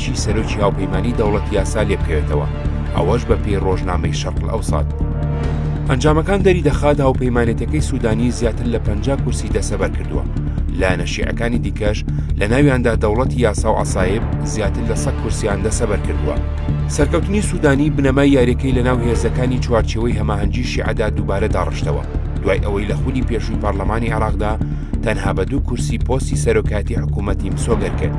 هەرچی سەرۆکی هاوپەیمانیی دەوڵەت یاسا لێ بکەوێتەوە، ئەوەش بە پێی ڕۆژنامەی شەرقلئەوسات. ئەنجامەکان دەری دەخات هاوپەیمانێتەکەی سوودانی زیاتر لە پەنجا کورسی دەسەبەر کردووە، لایەنە شیعەکانی دیکەش لە ناویاندا دەوڵەتی یاسا و عەسایب زیاتر لە سەد کورسییان دەسەبەر کردووە. سەرکەوتنی سوودانی بنەمای یارییەکەی لە ناو هێزەکانی چوارچێوەی هەماهەنگی شیعەدا دووبارە داڕشتەوە، دوای ئەوەی لە خولی پێشووی پارلەمانی عێراقدا تەنها بە دوو کورسی پۆستی سەرۆکایەتی حکوومەتی مسۆگەر کرد.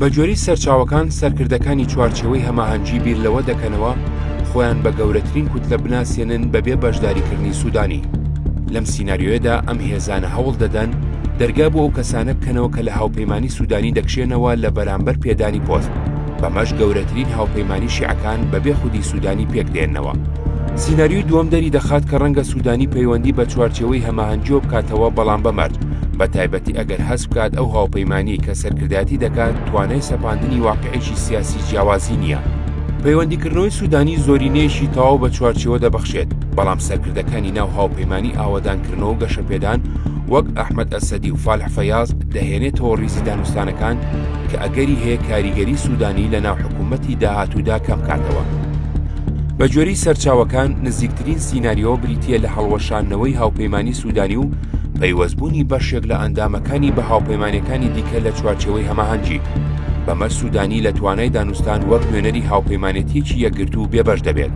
بەگوێرەی سەرچاوەکان، سەرکردەکانی چوارچێوەی هەماهەنگی بیر لەوە دەکەنەوە خۆیان بە گەورەترین کوتلە بناسێنن بەبێ بەشداریکردنی سوودانی. لەم سیناریۆیەدا ئەم هێزانە هەوڵ دەدەن دەرگا بۆ ئەو کەسانە بکەنەوە کە لە هاوپەیمانی سوودانی دەکشێنەوە لە بەرامبەر پێدانی پۆست، بەمەش گەورەترین هاوپەیمانی شیعەکان بەبێ خودی سوودانی پێکدێنەوە. سیناریۆی دووەم دەریدەخات کە ڕەنگە سوودانی پەیوەندی بە چوارچێوەی هەماهەنگییەوە بکاتەوە بەڵام بەمەرج، بە تایبەتی ئەگەر هەست بکات ئەو هاوپەیمانانی کە سەرکردایەتی دەکات توانای سەپاندنی واقعێکی سیاسی جیاوازی نییە. پەیوەندیکردنەوەی سوودانی زۆرینەیەکی تەواو بە چوارچێوە دەبەخشێت، بەڵام سەرکردەکانی ناو هاوپەیمانانی ئاوەدانکردنەوە و گەشەپێدان وەک ئەحمەد ئەسەدی و فالح فەیاز دەهێنێتەوە ڕیزی دانوستانەکان کە ئەگەری هەیە کاریگەری سوودانی لەناو حکوومەتی داهاتوودا کەمبکاتەوە. بەگوێرەی سەرچاوەکان، نزیکترین باشترین سیناریۆ بریتییە لە هەڵوەشاندنەوەی هاوپەیمانی سوودانی و پەیوەستبوونی بەشێک لە ئەندامەکانی بە هاوپەیمانەکانی دیکە لە چوارچێوەی هەماهەنگی بەمە سوودانی لە توانای دانوستان وەک نوێنەری هاوپەیمانێتیەکی یەکگرت و بێبەش دەبێت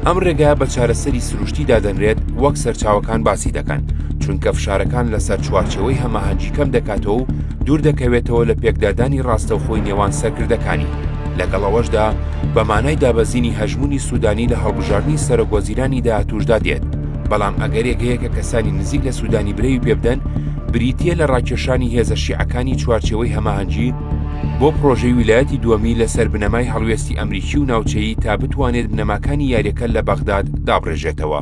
ئەم ڕێگا بە چارەسەری سروشتی دادەنرێت وەک سەرچاوەکان باسی دەکەن چونکە فشارەکان لەسەر چوارچێوەی هەماهەنگی کەم دەکاتەوە و دووردەکەوێتەوە لە پێکدادانی ڕاستەوخۆی نێوان سەرکردەکانی، لەگەڵ ئەوەشدا بە مانای دابەزینی هەژموونی سوودانی لە هەڵبژاردنی سەرۆکوەزیرانی داهاتووشدا دێت، بەڵام ئەگەرێک هەیە کە کەسانی نزیک لە سوودانی برەوی پێبدەن، بریتییە لە ڕاکێشانی هێزە شیعەکانی چوارچێوەی هەماهەنگی بۆ پڕۆژەی ویلایەتی دووەمی لەسەر بنەمای هەڵوێستی ئەمریکی و ناوچەیی تا بتوانێت بنەماکانی یاریەکە لە بەغداد دابڕێژێتەوە.